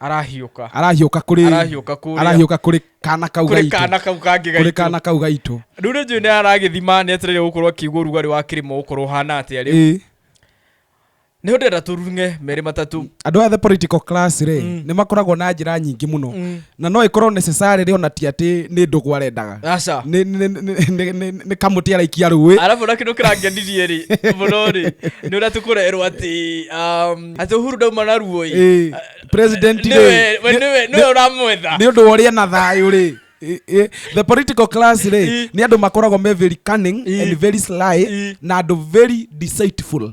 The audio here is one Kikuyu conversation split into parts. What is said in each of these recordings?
arahiũka arahiũka kũrĩ arahiũka kũrĩa arahiũka kũrĩ kana kau kũrĩ gaitũ kana kau kangĩ kũrĩ gaitũ kana kau gaitũ rĩu nĩ njũĩ nĩ aragĩthima nĩ etereire gũkorwo akĩigua ũrugarĩ wa kĩrĩma gũkorwo ũhana atĩa rĩu Ĩĩ. nĩ ndenda tũrunge merĩ matatũ andå a the political class rä Mm. nä makoragwo na njä ra nyingä må no Mm. na no ĩkorwo necessarily ona ti atĩ nĩ ndũgũ arendaga aca Nĩ- nĩ- nĩ- nĩ- nĩ- nĩ kamũtĩ araikia rũĩ arabu na kindu kirangenirie ri muno ri ni uria tukurerwo ati um, ati uhuru ndauma na ruo ĩ Ĩ, president rĩ, niwe we- nĩ- niwe niwe nĩ- uramwetha nĩ ũndũ wa ũrĩa na thayũ rĩ Ĩ, ĩ, the political class rĩ Ĩ. nĩ andũ makoragwo me very cunning Ĩ. and very sly Ĩ. na andũ very deceitful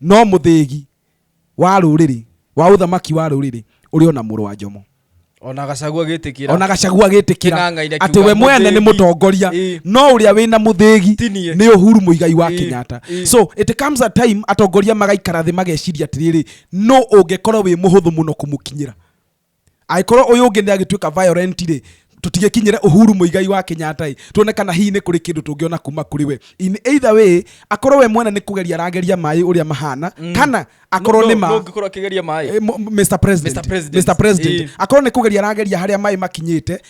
no mũthĩgi wa rũrĩrĩ wa ũthamaki wa rũrĩrĩ ũrĩ ona mũrũ wa njomo ona gacagua gĩtĩkĩra ona gacagua gĩtĩkĩra atĩ we mwene nĩ mũtongoria no ũrĩa wĩna mũthĩgi nĩ ũhuru mũigai wa Kenyatta so it comes a time atongoria magaikara thĩ mageciria atĩrĩrĩ no ũngĩkorwo wĩ mũhũthũ mũno kũmũkinyĩra Angĩkorwo ũyũ ũngĩ nĩ agĩtuĩka violent rĩ, tũtigĩkinyĩre Uhuru Muigai wa Kenyatta ĩ, tuone kana hihi nĩ kũrĩ kĩndũ tũngĩona kuma kũrĩ we. In either way, akorwo we mwene nĩ kũgeria arageria maĩ ũrĩa mahana, kana akorwo nĩ ma. Nũ ũngĩkorwo akĩgeria maĩ? Eh, mo- Mr. President. Mr. President. Mr. President. Ĩĩ. akorwo nĩ kũgeria arageria harĩa maĩ makinyĩte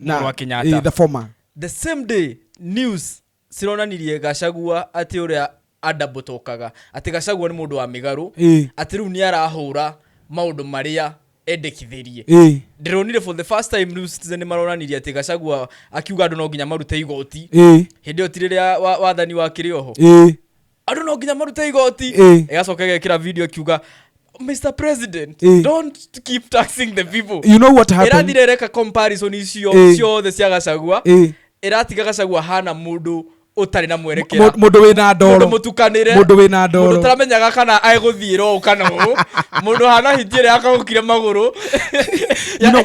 mũrũ wa Kenyatta. eh, the former the same day news cironanirie gacagua atĩ ũrĩa andambotokaga atĩ gacagua nĩ mũndũ wa mĩgarũ Eh. atĩ rĩu nĩ arahũra maũndũ marĩa endekithĩrie Eh. ndĩronire for the first time New Citizen nĩ maronanirie atĩ gacagua akiuga andũ no nginya marute igoti Eh. hĩndĩ ĩyo ti rĩrĩa wa- wathani wakĩrĩ oho Eh. andå no nginya marute igoti Eh. ĩgacoka ĩgekĩra video ĩkiuga mr president Eh. don't keep taxing the people you know what happened ĩrathire reka comparison icio Eh. ciothe cia gacagua Eh. ĩratiga gacagua hana mũndũ ũtarĩ na mwerekera Mũ- mũndũ wĩna mũndũ ndoro mũtukanĩre mũndũ wĩna mũndũ ndoro ũtaramenyaga kana egũthiĩra ũũ kana ũũ mũndũ hana hiti ĩrĩa akagũkire magũrũ You know,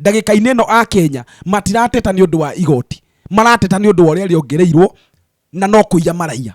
ndagĩka-inĩ ĩno a Kenya matirateta nĩ ũndũ wa igoti, marateta nĩ ũndũ wa ũrĩa rĩongereirwo na no kũiya maraiya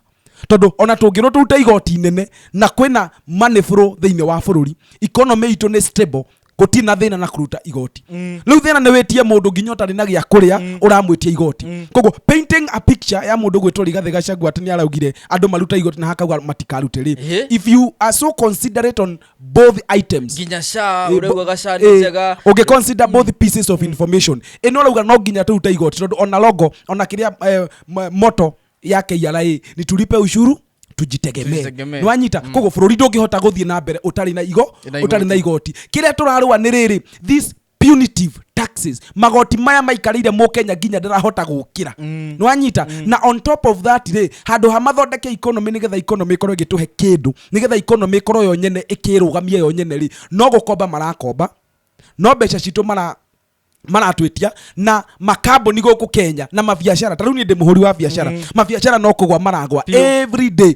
tondũ ona tũngĩrwo tũrute igoti nene na kwĩna manĩbũrũ thĩinĩ wa bũrũri economy itũ nĩ stable gũtirĩ na thĩna na kũruta igoti mm. rĩu thĩna nĩ wĩtie mũndũ nginya ũtarĩ na gĩa kũrĩa mm. ũramwĩtia igoti mm. koguo painting a picture ya mũndũ gwĩtwo rigathĩ gacagua atĩ nĩ araugire andũ maruta igoti na hakauga matikarute rĩ if you are so considerate on both items nginya sha Eh, urauga bo- gaca nĩ eh, njega ũngĩ consider both pieces of information ĩno ũrauga no nginya tũrute igoti tondũ ona logo ona kĩrĩa eh, m- moto ya KRA ni tulipe ushuru tujitegemee Tujitegemee. nwanyita koguo bũrũri ndũngĩhota gũthiĩ na mbere ũtarĩ na igo Na igoti. ũtarĩ na igoti kĩrĩa tũrarũa nĩ rĩrĩ this punitive taxes magoti maya maikarĩire mũkenya nginya ndarahota gũkĩra mm. nĩwanyita mm. na on top of that rĩ handũ ha mathondeke economy nĩgetha economy ĩkorwo ĩgĩtũhe kĩndũ nĩgetha economy ĩkorwo yo nyene ĩkĩrũgamia yo nyene rĩ no gũkomba marakomba no mbeca citũ mara maratwĩtia na makambuni gũkũ kenya na mabiacara ta rĩu niĩ ndĩ mũhũri wa biacara mm. mabiacara no kũgwa maragwa every day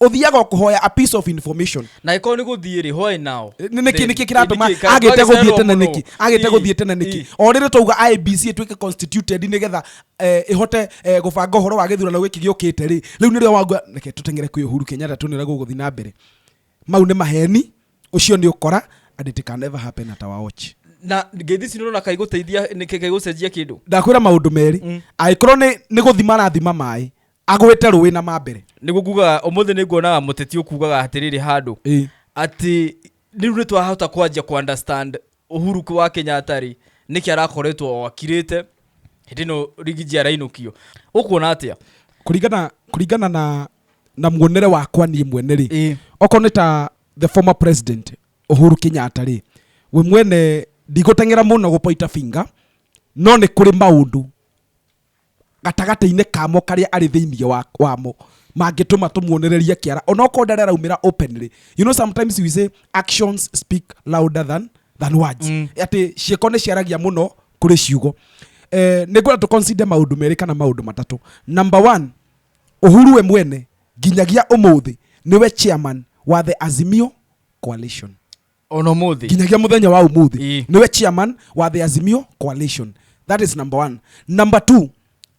uthiaga kuhoya a piece of information na ikorwo ni guthii ri why now Nĩ- nĩkĩ nĩkĩ kĩratũma agĩte gũthiĩ tene nĩkĩ agĩte gũthiĩ tene nĩkĩ o rĩrĩ twauga ibc ĩtuĩke constituted nĩgetha eh, ĩhote eh, gũbanga ũhoro wa gĩthurano gĩkĩ gĩũkĩte rĩ rĩu nĩrĩo wangua reke tũteng'ere kwĩ ũhuru kenyatta tuonere gũgũthiĩ na mbere mau nĩ maheni ũcio nĩ ũkora and it can never happen at our watch na ngeithi ci nona kai guteithia niki kai gucenjia kindu ndakwĩra maũndũ merĩ angĩkorwo nĩ nĩ gũthima arathima maĩ agwĩte rũĩ na mambere nĩguo kugaga ũmũthĩ nĩ nguonaga mũteti ũkugaga atĩrĩrĩ handũ atĩ rĩu nĩ twahota kwanjia kũ understand Uhuru wa Kenyatta rĩ nĩkĩ arakoretwo o akirĩte hĩndĩ ĩno rigiji arainũkio ũkuona atĩa kũringana kũringana na na muonere wakwa niĩ mwene rĩ okorwo nĩ ta the former president Uhuru Kenyatta rĩ we mwene ndigũteng'era mũno gũpoita finga no nĩ kũrĩ maũndũ gatagatĩ-inĩ kamo karĩa arĩ thĩinĩ wa, wamo mangĩtũma tũmuonererie kĩara onokorwo ndarĩ araumĩra openly you know sometimes we say actions speak louder than, than words mm. atĩ ciĩko nĩ ciaragia mũno kũrĩ ciugo eh, nĩ ngwenda tũconsider maũndũ merĩ kana maũndũ matatũ number one uhuru we mwene nginyagia ũmũthĩ nĩwe chairman wa the azimio coalition ona umuthi nginyagia muthenya wa umuthi Ĩĩ. niwe chairman wa the azimio coalition that is number one number two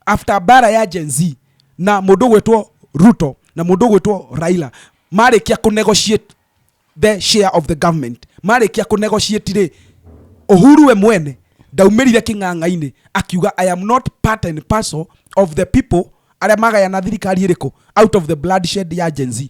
after bara ya gen z na mundu gwitwo ruto na mundu gwitwo raila marikia ku negotiate the share of the government marikia ku negotiate ri uhuru we mwene ndaumirire king'ang'a-inĩ akiuga i am not part and parcel of the people arĩa magayana thirikari ĩrĩkũ out of the bloodshed ya gen z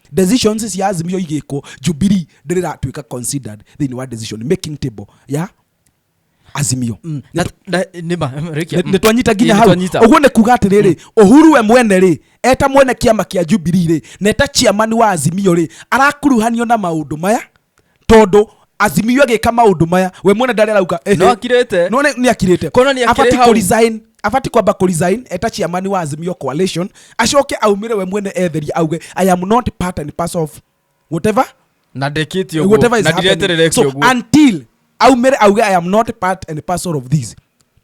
decisions cia azimio igĩkwo jubilee ndĩrĩratuĩka considered thĩinĩ wa decision making table ya azimio Mm. Na- na- nĩma, rĩkia. Nĩ- nĩtwanyita nginya Ĩ, hau nĩtwanyita. ũguo nĩ kuga atĩrĩrĩ ũhuru we mwene rĩ eta mwene kĩama kĩa jubilee rĩ na eta chairman wa azimio rĩ arakuruhanio na maũndũ maya tondå azimio agä ka maå ndå maya we mwene ndarä arauga eh, No eh. akirĩte. no nä akirä te Kuona nĩ akĩrĩ hau. abati kwamba kå resign eta ciamani wa azimio coalition acoke aumä re we mwene etheria auge i am not part and parcel of whatever na ndĩkĩtie ũguo, whatever is na happening. ndireterere So, ũguo until aumere auge i am not part and parcel of this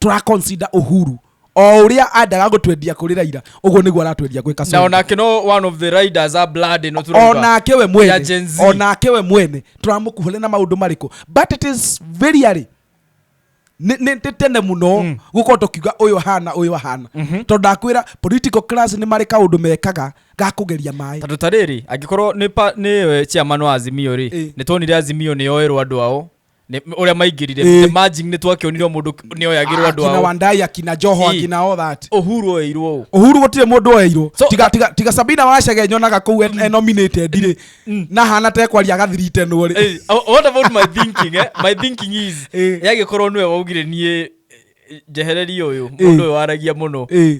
tũraconsider uhuru o ũrĩa andaga gũtwendia kũrĩ raira ũguo nĩguo aratwendia gwĩ na kasongo onake no one of the riders a blood ino turauga onake we ya mwene Gen Z. onake we mwene tũramũkuhũrĩ na maũndũ marĩkũ but it is very early Nĩ- nĩ nĩ tene mũno gũkorwo tũkiuga ũyũ ahana ũyũ ahana tondũ ndakwĩra political class nĩ marĩ kaũndũ mekaga ga kũgeria maĩ tondå ta rä rä angä korwo nä pa- nĩ we chairman wa azimio rä Eh. nä tuonire azimio nä yoerwo andå ao Nĩ- ũrĩa maingĩrire Ĩĩ. the merging nĩ twakĩonirwo mũndũ nĩ oyagĩrwo andũ akina ao wandai akina joho Ii. akina all that ũhuru oeirwo ũ uhuru gutire mundu oyairwo So- tiga tiga tiga sabina wacege nyonaga kuu en- e nominated ri na hana tekwaria agathirite nwo ri Hey, oh, what about my thinking eh? my thinking is Eh. yagĩkorwo nĩwe waugire niĩ eh, njehererie ũyũ mũndũ ũyũ waragia mũno Eh.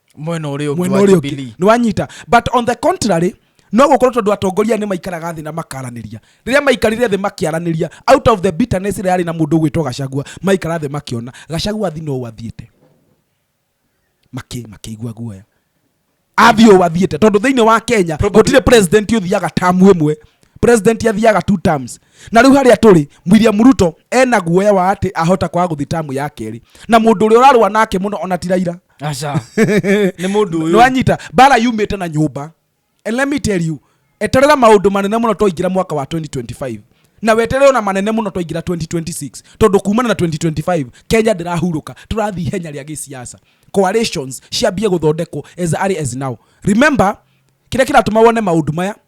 mwena å rä å mwena ũrĩa ũngĩ nĩ wanyita but on the contrary no gũkorwo tondũ atongoria nĩ maikaraga thĩ na makaranĩria rĩrĩa maikarire thĩ makĩaranĩria out of the bitterness ĩrĩa yarĩ na mũndũ ũgwĩtwo gacagua maikara thĩ makĩona gacagua athi no wathiĩte makĩigua guoya athi o wathiĩte tondũ thĩinĩ wa kenya gũtirĩ president ũthiaga tamu ĩmwe president athiaga two terms na riu haria turi William Ruto ena guoya wa ati ahota kwaga guthi tamu ya keri na mundu uri urarwa nake muno ona tiraira aca nä må ndå å yå nĩwanyita mbara yumĩte na nyũmba and let me tell you eterera maũndũ manene mũno twaingĩra mwaka wa 2025 na weterere ona manene mũno twaingĩra 2026 tondũ kumana na 2025 kenya ndĩrahurũka tũrathiĩ ihenya rĩa gĩsiasa coalitions ciambie gũthondekwo as early as now remember kĩrĩa kĩratũma wone maũndũ maya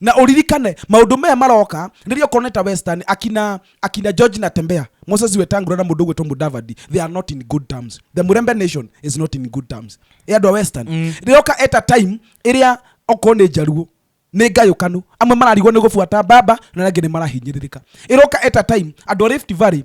Na ũririkane maũndũ maya maroka rĩrĩa okorwo nĩ ta Western, akina akina George Natembea, Moses Wetangula na mũndũ ũgwĩtwo Mudavadi, they are not in good terms. The Murembe nation is not in good terms. Ĩ andũ a Western. Mm. Rĩroka at a time ĩrĩa okorwo nĩ Njaruo nĩ ngayũkanu amwe mararigwo nĩ gũbuata baba na arĩa angĩ nĩ marahinyĩrĩrĩka ĩroka at a time andũ a Rift Valley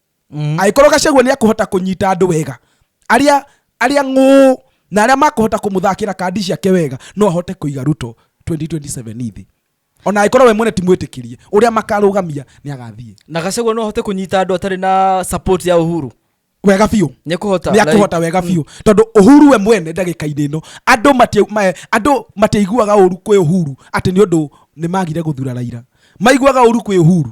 agĩkorwo gacagua nĩ akũhota kũnyita andũ wega arĩa arĩa ng'ũ na arĩa makũhota kũmũthakĩra kandi ciake wega no ahote kũiga ruto 2027 thĩ ona angĩkorwo we mwene ti mwĩtĩkĩrie ũrĩa makarũgamia nĩ agathiĩ na gacagua no ahote kũnyita andå atarä na support ya uhuru wega biũ nä kå hota nä akũhota wega biũ tondå uhuru we mwene ndagä-inä ä no andå mati- ma- andå matiaiguaga å ru kwä uhuru atä nä å ndå nä magire gå thura raira maiguaga å ru kwä uhuru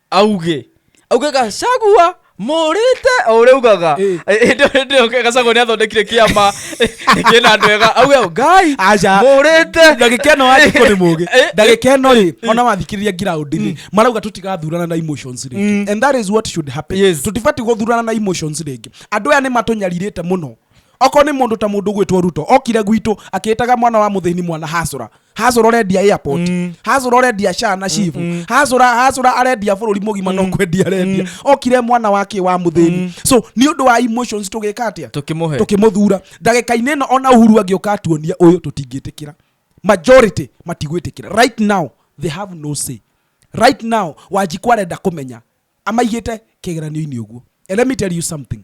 auge auge gacagua mũrĩte o ũrĩa ugaga Ĩ. ĩndĩ gacagua nĩ athondekire kĩama kĩna andũ ega auge ngai Aca. mũrĩte ndagĩka ĩno andĩko nĩ mũgĩ Eh, eh. ndagĩka ĩno rĩ ona mathikĩrĩria ngiraũndi-inĩ marauga tũtigathurana na emotions rĩngĩ and that is what should happen Yes. tũtibatiĩ gũthurana na emotions rĩngĩ andũ aya nĩ matũnyarirĩte mũno okorwo nĩ mũndũ ta mũndũ gwĩtwo ruto okire gwitũ akĩĩtaga mwana wa mũthĩni mwana hacũra hacũra ũrendia airport Mm. hacũra ũrendia shaa na shivu Mm-mm. hacũra hacũra arendia bũrũri mũgima no kwendia arendia okire mwana wake wa mũthĩni so nĩ ũndũ wa emotions tũgĩka atĩa tũkĩmũhe tũkĩmũthura ndagĩka-inĩ ĩno ona uhuru angĩũka atuonia ũyũ tũtingĩtĩkĩra majority matigwĩtĩkĩra right now they have no say right now wanjikwa arenda kũmenya amaigĩte kĩgeranio-inĩ ũguo And let me tell you something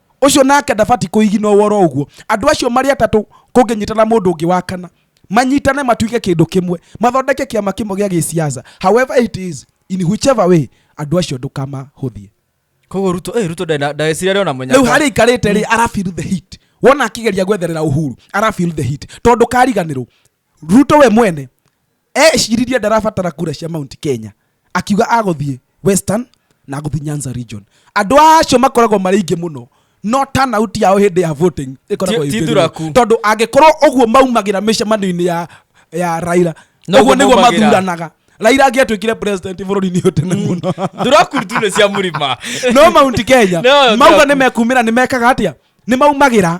ũcio nake ndabati kũigina ũworo ũguo andũ acio marĩ atatũ kũngĩnyitana mũndũ ũngĩ wa kana manyitane matuike kĩndũ kĩmwe mathondeke kĩama kĩmwe gĩa gĩciaca however it is in whichever way andũ acio ndũkamahũthie koguo ruto eh, ruto ndagecirä rä ona må nyarä u harä ikarä te rä arafil the heat wona akĩgeria gwetherera uhuru arafil the heat tondå kariganä rwo ruto we mwene eciririe ndarabatara kura cia mount kenya akiuga agũthiĩ western na agũthiĩ nyanza region andũ acio makoragwo marĩ ingĩ mũno no turnout yao hĩndĩ ya voting ĩkoragwo Ti- ti ĩthĩ thuraku. mũno. tondũ angĩkorwo ũguo maumagĩra mĩcemanio-inĩ ya, ya raira Noguo ũguo nĩguo maumagĩra. mathuranaga raira angĩatuĩkire president bũrũri-inĩ ũyũ tene mũno thuraku tu nä cia må rima no mount kenya No, mauga thuraku. nä mekumä ra nä mekaga atä a nä maumagä ra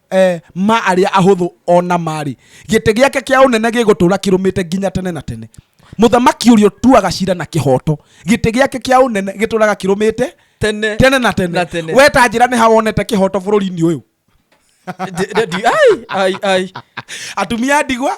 e, ma arĩa ahũthũ o na marĩ gĩtĩ gĩake kĩa ũnene gĩgũtũũra kĩrũmĩte nginya tene na tene mũthamaki ũrĩa ũtuaga cira na kĩhooto gĩtĩ gĩake kĩa ũnene gĩtũũraga kĩrũmĩte tene tene na tene Na tene. we ta njĩra nĩ ha wonete kĩhooto bũrũri-inĩ ũyũ Ndi- ndi- ai, ai, ai. atumia a ndigwa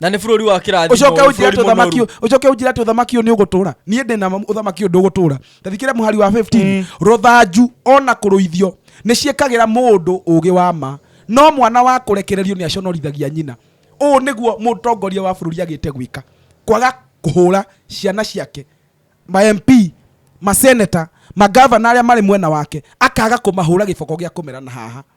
na nä bå rå ri wa kä rathimo ucoke unjire ati uthamaki ucoke unjire ati uthamaki uyu ni ugutura nie ndina uthamaki uyu ndugutura tathikire muhari wa 15 ruthanju ona kuruithio ni ciekagira mundu ugi wa ma no mwana wa kurekererio ni aconorithagia nyina uu niguo mutongoria wa bururi agite gwika kwaga kuhura ciana ciake ma MP maseneta magavana aria mari mwena wake akaga kumahura giboko gia kumera na haha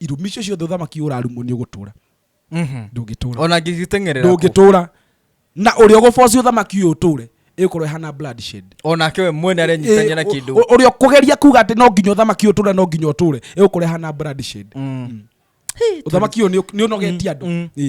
irumi icio ciothe ũthamaki ũrarumwo nĩ ũgũtũra Mhm. ndũngĩtũra ona ngĩgĩteng'erera kũ. ndũngĩtũra na ũrĩa ũgũboci ũthamaki ũyũ ũtũre ĩgũkorwo ĩhana bloodshed onake we mwene arenyitania na Ĩ- kĩndũ ũ- ũrĩa ũkũgeria kuga atĩ no nginya ũthamaki ũyũ ũtũre no nginya ũtũre ĩgũkorwo ĩhana bloodshed Mm. ũthamaki ũyũ nĩ- nĩ ũnogetie andũ Mm. Ĩ.